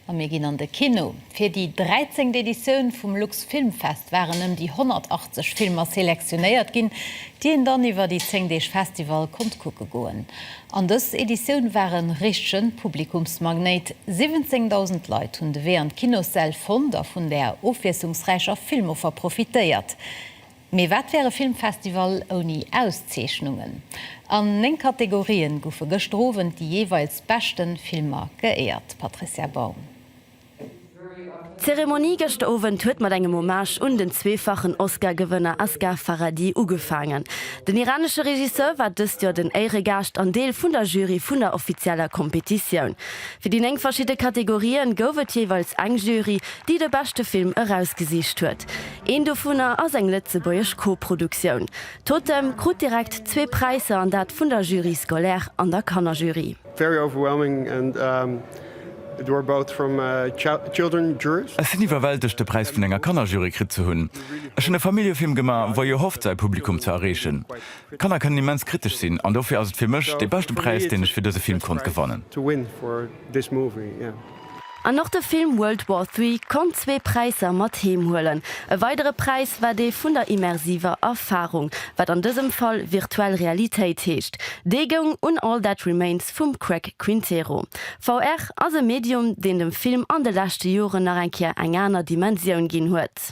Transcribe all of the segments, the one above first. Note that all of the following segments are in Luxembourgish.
A mir ginn an de Kino. Fir déi dräizengt Editioun vum Luxfilmfest waren ëm déi 180 Filmer selektionéiert ginn, déi een dann iwwer déi zéng Deeg Festival konnt kucke goen. An dës Editioun war e richtege Publikumsmagnéit, 17.000 Leit hunn de Wee an d'Kinossäll fonnt a vun där ofwiesslungsräicher Filmoffer profitéiert. Mee wat wär e Filmfestival ouni Auszeechnungen? An 9 Kategorien goufe gëschter Owend déi jeeweils beschte Filmer geéiert. Patricia Baum. D'Zeremonie gëschter Owend huet mat engem Hommage un den zweefachen Oscar-Gewënner Asghar Farhadi ugefaangen. Den iranesche Regisseur war dëst Joer den Éieregaascht an Deel vun der Jury vun der offizieller Kompetitioun. Fir déi 9 verschidde Kategorië gouf et jeeweils eng Jury, déi de beschte Film erausgesicht huet. Een dovunner ass eng lëtzebuergesch Koproduktioun. Totem krut direkt zwee Präisser an dat vun der Jury scolaire an der Kannerjury. Ech sinn iwwerwältegt de Präis vun enger Kannerjury kritt ze hunn. Ech hunn e Familljefilm gema wou jo hofft säi Publikum ze erreechen. Kanner kënnen immens kritesch sinn an dofir ass et fir mech dee beschte Präis deen ech fir dëse Film konnt gewannen. An och de Film World War Three konnt zwee Präisser mat heem huelen. E weidere Präis war dee vun der immersiver Erfarung, wat an dësem Fall virtuell Realitéit heescht. Dee goung un All That Remains vum Craig Quintero. VR ass e Medium, deen dem Film an de leschte Joren nach eng Kéier eng aner Dimensioun ginn huet.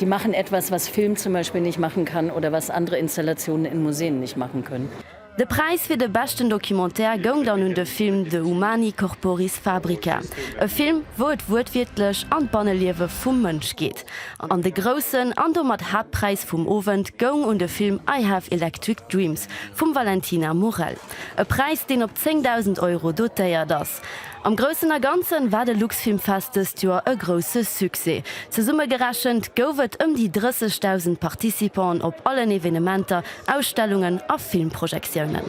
Die machen etwas, was Film zum Beispiel nicht machen kann oder was andere Installationen in Museen nicht machen können. De Präis fir de beschten Documentaire goung dann un de Film De Humani Corporis Fabrica, e Film, wou et wuertwiertlech an d'Banneliewe vum Mënsch geet. An de groussen an domat Haaptpräis vum Owend goung un de Film I Have Electric Dreams vum Valentina Morel, e Präis, deen op 10.000 Euro dotéiert as. Am Groussen a Ganzen war de Luxfilmfest dëst Joer e grousse Succès. Zesumme gerechent gouf et ëm déi 30.000 Participanten op allen Evenementer, Ausstellungen a Filmprojektiounen.